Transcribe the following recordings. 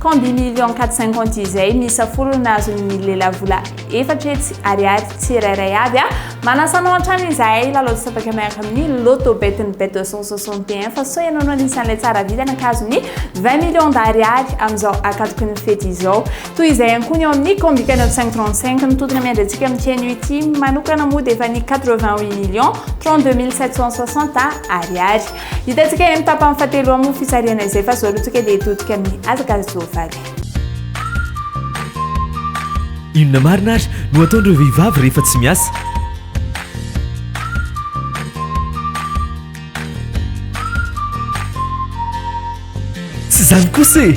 Combien millions quatre cinquante izay miisa folo no azon'ny lehilahy vola efatra hetsy ariary tsirairay avy a! Manasa anao hatrany izahay hilalao tapaka miaraka amin'ny Lotto Bet ny Bet deux cent soixante et un fa sao ianao no anisan'ilay tsara vita nankazo ny vingt millions d'ariary amin'izao akatoky ny fety izao. Toy izay ihany koa ny eo amin'ny Combika neuf cent trente cinq ny tontona miandry antsika amin'ity anio ity manokana moa dia efa ny quatre vingt huit millions trente deux mille sept cent soixante ariary. Hitantsika eny amin'ny tapany fahatelo ao amin'ny fisarihana izay fa izao rotsaka dia hitodika amin'ny hazaka soavaly. Inona marina ary no ataon'ireo vehivavy rehefa tsy miasa? Tsy izany kosa e!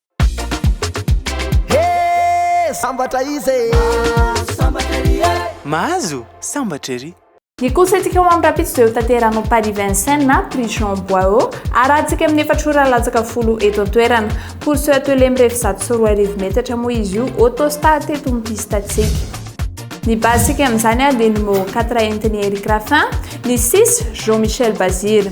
Hee sambatra izy e! Mahazo sambatra ery e! Mahazo sambatra ery! Ny kolosaintsika ao amin'ny Rapids dia hotanteranao Paris Vincennes na Prix Jean Boihaut harahantsika amin'ny efatra ora latsaka folo eto an-toerana. Course eo Atelier mirefy zato sy roa arivo metatra moa izy io, Autostar teto amin'ny piste-ntsika. Ny base-ntsika amin'izany dia Numéro quatre entin'i Eric Raffin, ny six Jean Michel Bazir.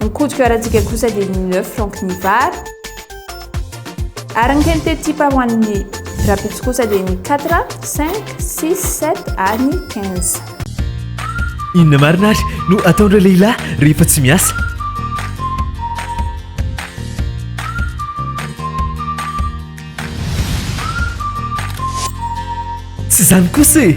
Ny code QR-ntsika kosa dia ny neuf francs ny vary. Ary ny qualité type ho an'ny rapitso kosa dia ny quatre, cinq, six, sept ary ny quinze. Inona marina ary no ataon'ireo lehilahy rehefa tsy miasa? Tsy izany kosa e!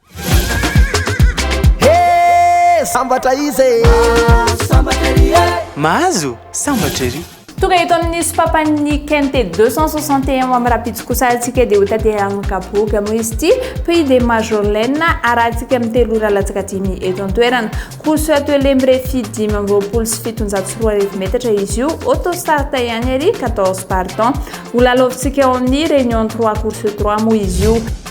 Hee sambatra izy e! Mahazo sambatra ery e! Mahazo sambatra ery! Tonga eto amin'ny sopapan'ny KNT 261 amin'ny Rapitsokosa antsika dia ho tanterahina kapoaka moa izy ity Prix de Majorlena arahantsika amin'ny telo ora latsaka dimy eto an-toerana. Course atelier mirefy dimy amby roapolo sy fitonjato sy roa arivo metatra izy io, auto start ihany ery, quatorze partants. Ho lalaovintsika ao amin'ny Réunion trois course trois moa izy io.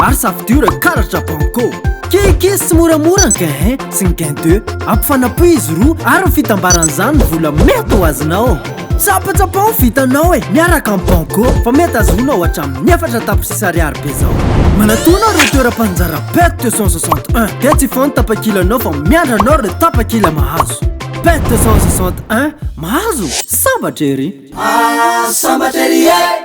Ary safidura karatra banco Keke sy moramora ny gain 1 sy ny gain 2 Ampifanapohy izy roa ary ny fitambaran'izany ny vola mety ho azonao Tsapatsapao ny vitanao e miaraka amin'ny banco Fa mety azonao hatramin'ny efatra tapitrisa ariary be zao Manatona ireo toeram-panjara pet 261 Dia tsy hifoha ny tapakilanao fa miandry anao ireo tapakila mahazo Pet 261 Mahazo? Sambatra ery! Sambatra ery e!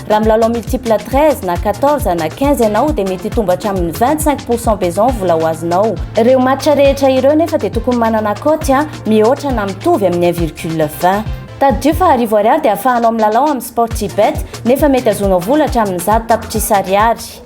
Raha milalao multiple 13 na 14 na 15 ianao dia mety hitombo hatramin'ny 25 pourcent besoin vola ho azonao. Ireo match rehetra ireo nefa dia tokony manana cote a mihoatra na mitovy amin'ny 1 virgule 20. Tadidio fa arivo ariary dia ahafahanao milalao amin'ny Sportybet nefa mety azonao vola hatramin'ny zato tapitrisa ariary.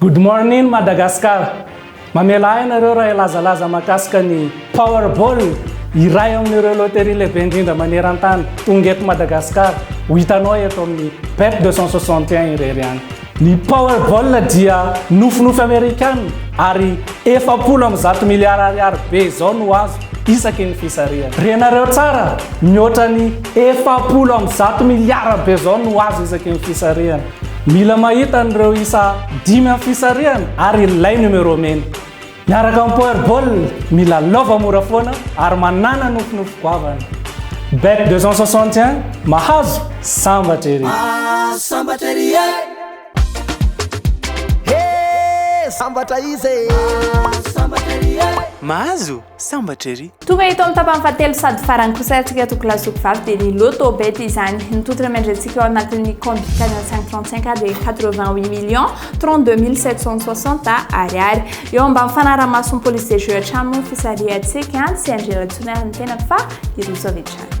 Good morning Madagascar! Mamela ahy ianareo raha hilazalaza mahakasika ny Powerball, iray amin'ireo loterie lehibe indrindra maneran-tany, tonga eto Madagasikara, ho hitanao eto amin'ny Bet 261 irery ihany. Ny Powerball dia nofinofy Amerikana ary efapolo amby zato miliara ariary be izao no azo isaky ny fisarihana. Renareo tsara, mihoatra ny efapolo amby zato miliara be izao no azo isaky ny fisarihana. Mila mahita an'ireo isa dimy amin'ny fisarihana ary ilay numéro mena. Miaraka amin'ny Powerball, mila lova mora foana ary manàna nofinofy goavana. Bet 261, mahazo, sambatra ery! Ah, sambatra ery e! He! Sambatra iza e! Ah, sambatra ery e! Mahazo? Sambatra ery! Tonga eto amin'ny tapany fahatelo sady farany kosa antsika toko lahy zoky vavy dia ny loto bet izany. Ny tontolo miandrentsika ao anatin'ny compte Canal 535 dia 88 millions 32 mille 760 ariary. Eo ambany fanaraha-mason'ny police des jeux hatrany moa ny fisarihantsika, tsy Andrianratsoa na ny tenako fa i Rojo avy hatrany.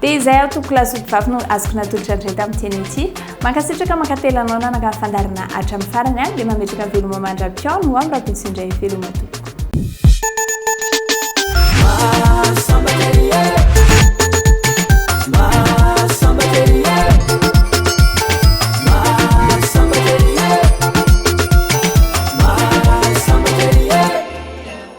Dia izay aho tompoko lahy sy mpivavy no azoko natolotra indray tamin'ity anio ity. Mankasitraka mankatelina anao nanangano fandaharana hatramin'ny farany aho dia mametraka ny veloma mandra-pihaona ho amin'ny Rakoto sy indray veloma tompoko.